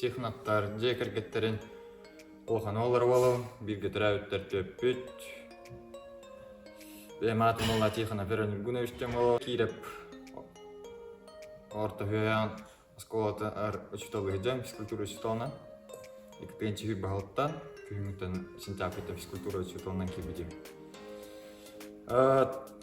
техноктар дьиэ кэргэттэрин улахана олору буолабын бииргэ төрөөбүттэр төрөппүт бэйэм аатым буолла тихонов вероним гунович тёмоло кииреп орто үһээн оскуолатыгар учуутал сыдьан физкультура учууталынан иккитинчи баһылыктан күһүҥҥүттэн сентябрьга физкультура учууталынан киирбитим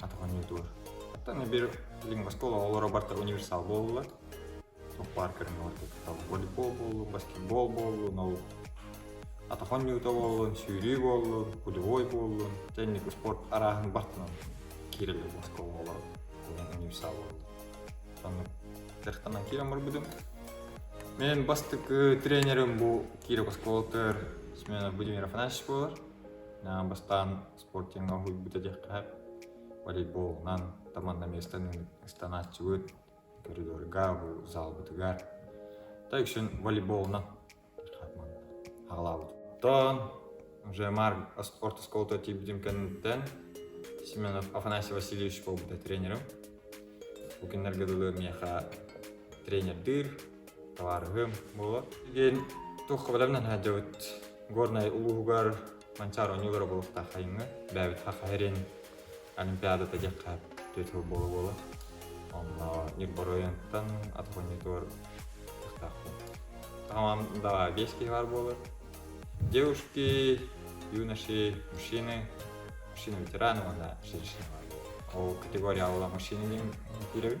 атах эмиэ туор. Оттон эбир лингвоскол оҕолоро барта универсал буолла. Суппаар көрүҥүгэр кыттал волейбол буоллу, баскетбол буоллу, наук атахон ньуута буоллун, сүүрүү буоллун, кулевой буоллун, тенник спорт арааһын бартынан кирелер оскол оҕолоро универсал буоллу. Сонно тертанан кирен барбыдым. Мен бастык тренерим бу кирек осколтыр смена Будимир Афанасьевич болар. Бастан спортивнай уһуйбут этиэххэ волейболунан таманна миэстэнэн ыстанааччыбыт коридорга бу залбытыгар та үксүн волейболунан аҕалаабытыттан уже марк спорт осколото тиийбитим кэнниттэн семенов афанасий васильевич буолбута тренерим бу күннэргэ дылы миэхэ тренердиир Табаарыһым буоло диэн туохха бэлэм наһаадьабыт Горнай улууһугар Манчаар оонньуулара буолуохтаах хайыҥы бээбит хахаһирин Олимпиадата диэххэ түөрт сыл буола буола онно Ньурбар оройуонтан атах оонньуутугар кыахтаахпын Хамам да биэс киһи баар буолар девушки юноши мужчины мужчина ветераны уонна женщина бар ол категорияла мужчина диэн киирэбин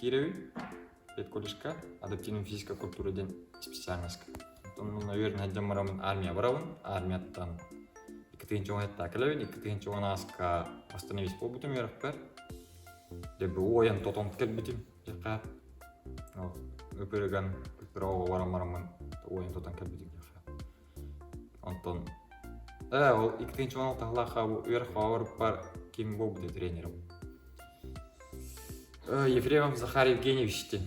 киирэбин педколледжка адаптивная физическая культура диэн специальноска оттон мунна үөрэн дьон барамын армия барабын армияттан икки тыһыынча уон ытта кэлэбин икки тыһыынча уон ааска бастан эмис буолбутум үөрэхпэр дебе ойон тотон кэлбитим дьэхэ ыпырыган культураҕа баран бараммын ойон тотон кэлбитим Онтон ээ ол иккитинчи уон алтыһалаахха бу үөрэх хоһоорбар ким буолбутуй тренерим Ефремов Захар Евгеньевичтин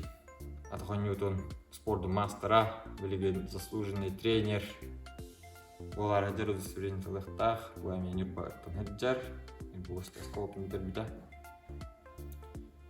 атоҕонньуутун спордун маастара билигин заслуженный тренер буолаары сылдьар удостоверение талыахтаах бу эмиэ ньурбаттан сылдьар булочка осколотун бүтэрбитэ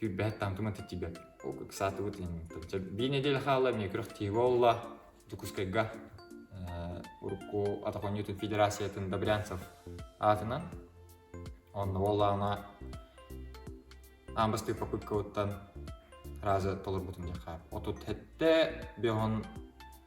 Күйбэһэт таҥкыма тэтибэт. Ыксаатыбыт инниттэн. Чэ, бии неделя хаалла эмиэ күрэх тиһи буолла. Дьокуускайга э, урукку атахонньутун федерациятын Добрянцев аатынан онно буоллаҕына аан бастыы попыткабыттан разы толорбутун диэххэ. Отут hetте беһон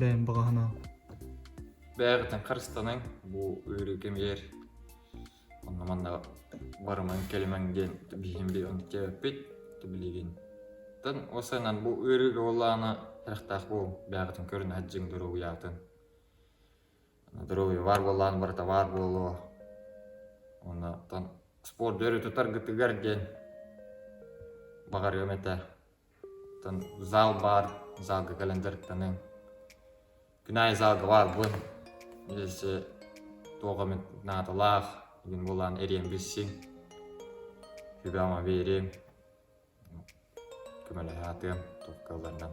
бэйэм баҕаһынан бэйэбитин харыстанаҥ бу ыарыы кэмигэр онно манна барымаҥ кэлимэҥ диэн биһиги онтиэппит билигин тан осанан бу ыарыыга олаана харахтаах буол бэйэҕитин көрүн хаддьыҥ доругуйаатын доругуйа баар буоллаан барыта баар буолуо оннотон спорт дөрү тутаргытыгар диэн баҕарыам этэ зал баар залга кэлэн дьарыктаныаҥ күн аайы залга баарбын эссе туох эмит наадалаах игин буолаан эриэн билсиҥ сүбэҕэ биэриэҥ көмөлөһө сатыам туох кыалларынан